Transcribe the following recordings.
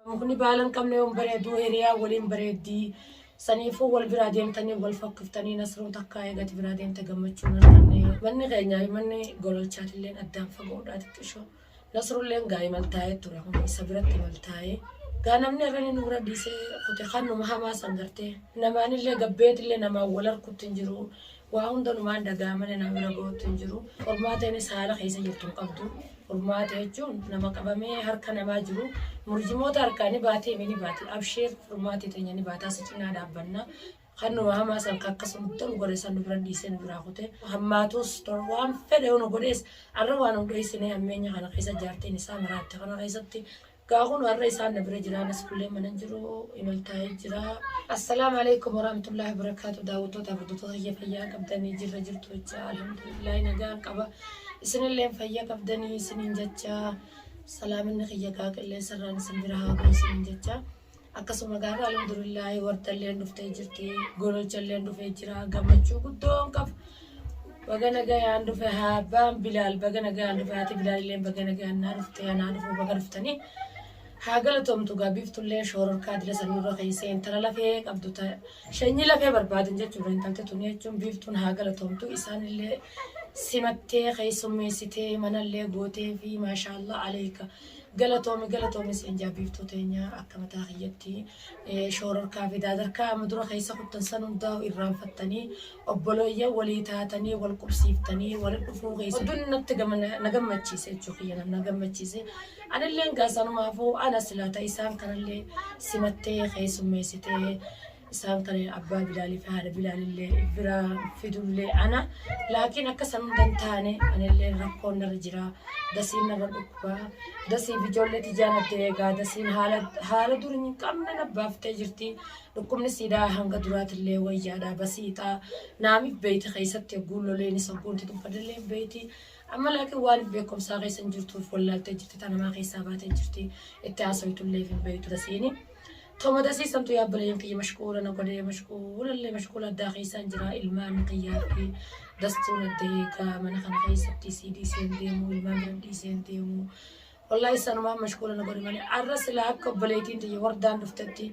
Mukni baala hin qabne yoom bareedu hiriyaa waliin bareeddi. Saniifuu wal biraa deemtanii wal fakkiftanii Nasruun takkaa eegati biraa deemte gammachuu hin arganne. Manni keenyaa fi manni gololchaatilleen addaan fagoodhaa xiqqishoo. Nasrulleen gaa imal taa'ee ture kun isa biratti imal taa'ee. Gaa namni irrani nu bira dhiisee kute kan numa hamaa san gartee. Namaanillee gabbeetillee namaan wal arkutti hin jiru. Waa hundanumaan dagaa malee nama bira gahuutti hin jiru. Qormaateenis haala keessa jirtu hin qabdu. Furmaata jechuun nama qabamee harka namaa jiru murjimoota harkaa ni baati emi ni baati. Abshiir furmaati teenya ni baataa si cinaa dhaabbanna. Kan nu hamaa san kan akkas nu tolu godhe san nu bira dhiisee nu biraa kute. Hammaatus tolu waan fedhe yoo nu godhees arra waan nu dhoysine hammeenya kana keessa jaartiin isaa maraatte kana keessatti Gaa kunu har'a isaan na bira jira anas kullee manan jiru imal taa'ee jira. Assalaamu alaikum warahmatullahi wabarakatuh daawwattoota hordoftoota kiyya fayyaa qabdanii jirra jirtu jecha alhamdulillahi nagaan qaba isinilleen fayya qabdanii isiniin jecha salaaminni kiyya gaa qilleensarraan isin bira haa ga'u isiniin jecha Akkasuma garuu alhamdulillaahi wartalleen dhuftee jirti gololchalleen dhufee jira gammachuu guddoon qaba. Baga nagayaan dhufe abbaan bilaal baga nagayaan dhufe haati bilaalilleen baga nagayaan naa dhufte anaa dhufu baga dhuftanii. Haa galatoomtu gaa biiftullee shoororkaa dila san nurra keessee intala lafee qabdu ta shanyii lafee barbaadan jechuudha intalti tun jechuun biiftuun haa galatoomtu isaanillee simattee keessummeessitee manallee gootee fi maashaallah aleeka. Galatoomi galatoomi siin jaa biiftuu teenya akka mataa kiyyatti eh, shoororkaa fi daadarkaa amma dura keessa kuttan san hundaa irraanfattanii obbolooyyan walii taatanii wal qubsiiftanii wal dhufuu keessa oduun natti gama na gammachiise jechuu kiyya na- na gammachiise anilleen gaasanumaafuu ana silaata isaan kanallee simattee keessummeessitee Isaan kanneen abbaa Bilaalii fi haadha Bilaalillee biraa fidullee ana. Laakiin akka san hunda hin taane anillee rakkoon narra jira. Dasiin narra dhukkuba. Dasiif ijoollee tijaan adda eegaa. Dasiin haala haala dur hin qabne na baaftee jirti. Dhukkubni siidaa hanga duraatillee wayyaadha basiixaa. Naamiif beeyti keessatti ogguun loleenis ogguun itti tuffadillee hin beeyti. Amma laakiin waaniif beekumsaa keessa hin jirtuuf wallaaltee jirti. Tanamaa keessaa baatee jirti. Itti haasawitullee hin beeytu dasiini. Too mataa sii samtuu yaa obboleeyyan kiyya mashquula na godhee mashquula illee mashquula addaa keessaan jira ilmaan kiyyaa fi dastuun adda eegaa mana kana keessatti sii dhiiseen deemu ilmaan bira dhiiseen deemu wallahi isanumaan mashquula na godhe malee arra silaa akka obboleeytiin tiyya wardaan dhuftetti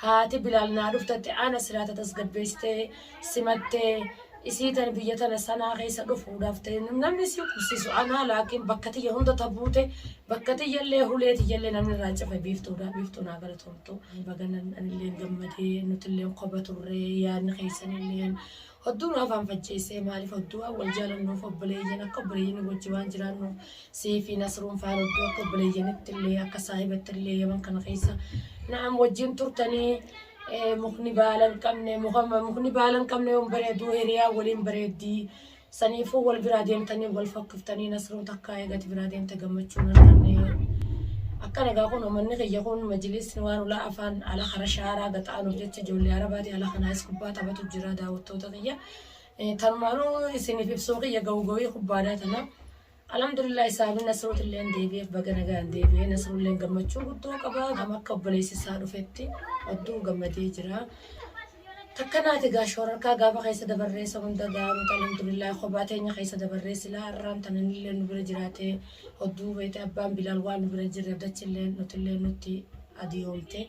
haati bilaal naa dhuftetti ana silaa tatasgabbeessitee simatte isii tana biyya tana sanaa keessa dhufuudhaaf ta'e namni isii qubsiisu anaa laakiin bakka tiyya hunda ta buute bakka tiyyallee hulee tiyyallee namni irraa cufe biiftuudha biiftuu naa galatoomtu baganan anillee gammadee nutillee koba turre yaadni keessanillee hodduu nu afaan facceessee maaliif hodduu waan wal jaalannuuf obboleeyyan akka obboleeyyan wajji waan jiraannu sii fi nasruun faan hodduu akka obboleeyyanittillee akka saahibattillee yaman kana keessa na'am wajjin turtanii Mukni baala hin qabne mukni baala hin qabne yoon bareedu hiriyaa waliin bareeddi. Saniifuu wal biraa deemtanii wal fakkiftanii nasruu takkaa eegati biraa deemte gammachuu hin arganne. Akka nagaa kun uummanni kiyya kun majlisni waan ulaa afaan ala kara shaaraa gaxaanuuf jecha ijoollee arabaati ala kanaayis kubbaa taphatu jira daawwattoota kiyya. Tanumaanuu isiniif ibsuu kiyya gawuu gawii kubbaadaa tana. Alhamdulillah Saabi Nasruutilleen deebi'eef baga nagaan deebi'e Nasruulleen gammachuu guddoo qaba gam akka obboleessi isaa dhufetti odduu gammadee jira takka naati gaa shoorarkaa gaafa keessa dabarree isa hunda gaa nuti alhamdulillah kophaa teenya keessa dabarree silaa har'aan tananillee nu bira jiraatee odduu beete abbaan bilaal waan nu bira jirre dachillee nutillee nutti adiyoomte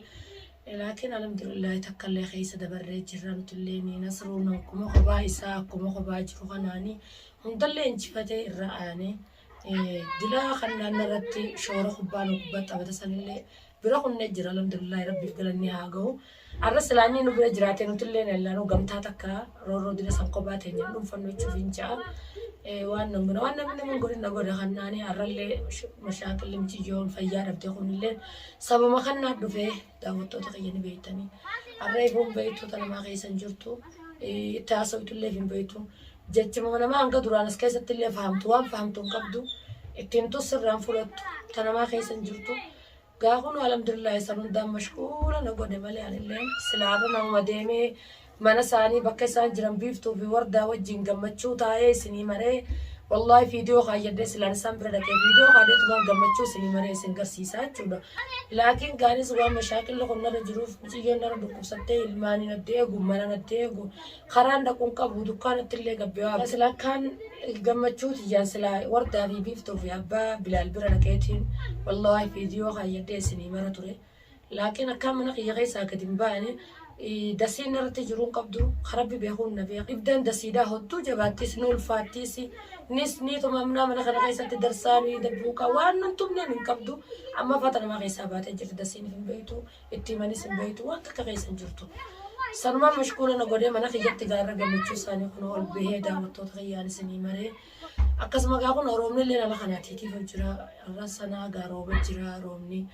laakiin alhamdulillah takkallee keessa dabarree jirra nutillee ni nasruun akkuma kophaa isaa akkuma kophaa jiru kanaani Hundallee injifatee irra aanee dila kan naannoo irratti shoora kubbaa nu kubbaa taphata sanillee bira kunnee jira alhamdulillahi rabbiif galanni haa gahu. Arra silaa inni nu bira jiraatee nutillee nallaanuu gamtaa takka roorroo dila san kophaa teenya dhuunfannu jechuuf hin ja'a. Waan nan godha waan namni naman godhin na godha kan naanii arrallee mashaaqilli miciyyoon fayyaa dhabdee kunillee sababa kan naa dhufee daawwattoota kiyya ni beektanii. Har'a eeboon beektoota namaa keessa hin jirtu. Eh, Itti haasawtu illee hin beektu. Jechuma namaa hanga duraan as keessatti illee fahamtu waan fahamtu hin qabdu. Itti himtus sirraan fudhattu. Ta namaa keessa hin jirtu. Gaafuu nu alhamdulillah san hundaan mashquula na godhe malee anillee silaarra namuma deemee Mana isaanii bakka isaan jiran biiftuu fi wardaa wajjiin gammachuu taa'ee isinii maree wallahi viidiyoo kaayyadhee silaan isaan bira dhaqee viidiyoo kaadheetumaan gammachuu isinii maree isin garsiisaa jechuudha laakiin gaanis waan mashaakilli kun narra jiruuf miciyyoon narra dhukkubsattee ilmaanii natti eegu mana natti eegu karaan dhaquun qabu dukkaanatti illee gabbee waa sila akkaan gammachuu tiyyaan sila wardaa fi biiftuu fi abbaa bilaal bira dhaqeetiin wallahi viidiyoo kaayyadhee isinii mara ture Laakiin akkaan mana kiyya keessaa gad hin baane. Dasiin narratti jiru hin qabdu. Ka Rabbi beekuun na beeka. Ibiddan dasiidhaa hodduu jabaattis, ni ulfaattis, nis ni tumamna. Mana kana keessatti darsaa nuyi dabbuuqaa waan nun tumneen hin qabdu. Amma fata namaa keessaa baatee jirti. Dasiinif hin beektu, itti himanis hin beektu. Waan takka keessa hin jirtu. Sanumaan mashkuula na godhee mana kiyyatti gaarra gammachuu isaanii kunoo ol bahee daawwattoota kiyyaan isinii maree. Akkasuma gaa kunoo roobni illee nama kanaa tiitiif jira. Har'a sanaa gaa rooba jira roobni.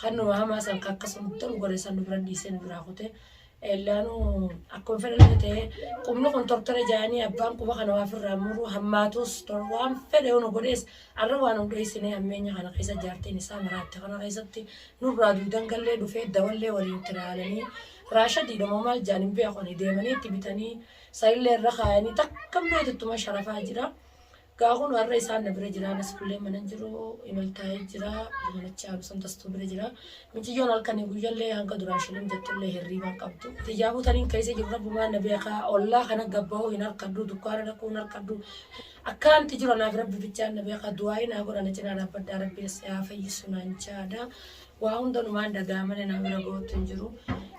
Kan nu hamaa san kan akkasumatti nu godhe san nu bira dhiisee nu biraa kute. Ellaanuu akkuma fedhe illee ta'ee qubni kun tortore jaanii abbaan quba kana waa firraa muruu hammaatus tor waan fedhe nu godhees arra waan nu dheessinee ammeenya kana keessa jaartiin isaa maraatte kana keessatti nurraa duudan gallee dhufee dawallee waliin tiraalanii raashadii dhamoo maal jaaniin beekoni deemanii itti bitanii sarillee irra kaayanii takka meetittuma sharafaa jira. Gaa kunu har'a isaan na bira jira anas kullee mana hin jiru imal taa'ee jira manachaa bisan tastuu bira jira miciyyoon halkanii guyyallee hanga duraan shilim jettullee hirriibaan qabdu tiyyaafuu taniin keessa jiru rabbumaan na beekaa ollaa kana gabbahuu hin harkadhu dukkaana dhaquu hin harkadhu akkaanti jiru anaaf rabbi bichaan na beekaa du'aa'ii naa godha na cinaa dhaabbadhaa rabbiin si haa fayyisu naan jaada waa hundanumaan dhagaa malee naa bira gootu hin jiru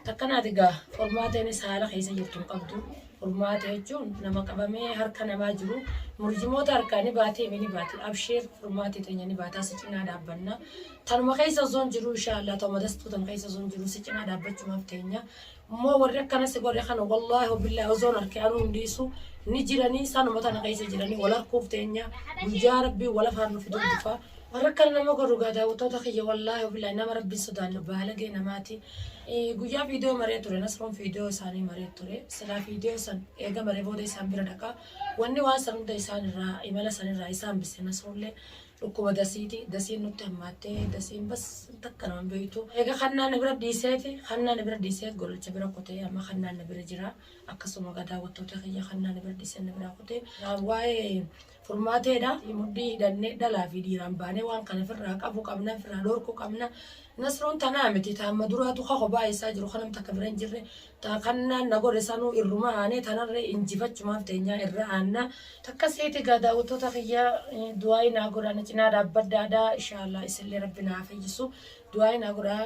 takkanaati gaa qormaateenis haala keessa jirtu hin qabdu Furmaata jechuun nama qabamee harka namaa jiru murjimoota harkaa ni baatee mi ni baati abshiir furmaati teenya ni baataa si cinaa dhaabbanna tanuma keessa osoon jiruu inshaa Allah ta'uma dastuu tan keessa osoon jiruu si cinaa dhaabbachumaaf teenya immoo warri akkana si godhe kana wallaahi hubillaahi osoon harke anuu hin dhiisu ni jiranii sanuma tana keessa jiranii wal harkuuf teenya guyyaa rabbii wal afaan nu fiduu dhufa warra akkana nama godhu gaa daawwattoota kiyya wallaahi hubillaahi nama rabbii sodaannu baalagee namaati Guyyaa viidiyoo maree ture Nasroon viidiyoo isaanii maree ture silaa viidiyoo san eega maree booda isaan bira dhaqa wanni waan san hunda isaan irraa imala san irraa isaan bise Nasroollee dhukkuba dasiiti dasiin nutti hammaattee dasiin bas takka nama beektu eega kannaa na bira dhiiseeti kannaa na bira dhiiseet golacha bira kutee amma kannaa na bira jira akkasuma gadaa wattoota kiyya kannaa na bira dhiiseen na biraa kutee waa'ee furmaateedha. Mudhii hidhannee dhalaa fi dhiiraan baanee waan kana firraa qabu qabna, firraa dhorku qabna. Nasruun tanaa miti, ta amma duraatu ka kophaa eessaa jiru ka nam takka bira hin jirre, ta kannaan na godhe sanuu irruma aanee tanarree injifachumaaf teenyaa irra aanna. Akkasiiti egaa daawwattoota kiyya du'aa'ii naa godhaa na cinaa dhaabbadhaa dha. Inshaa Allah isinlee Rabbi naa fayyisu du'aa'ii naa godhaa.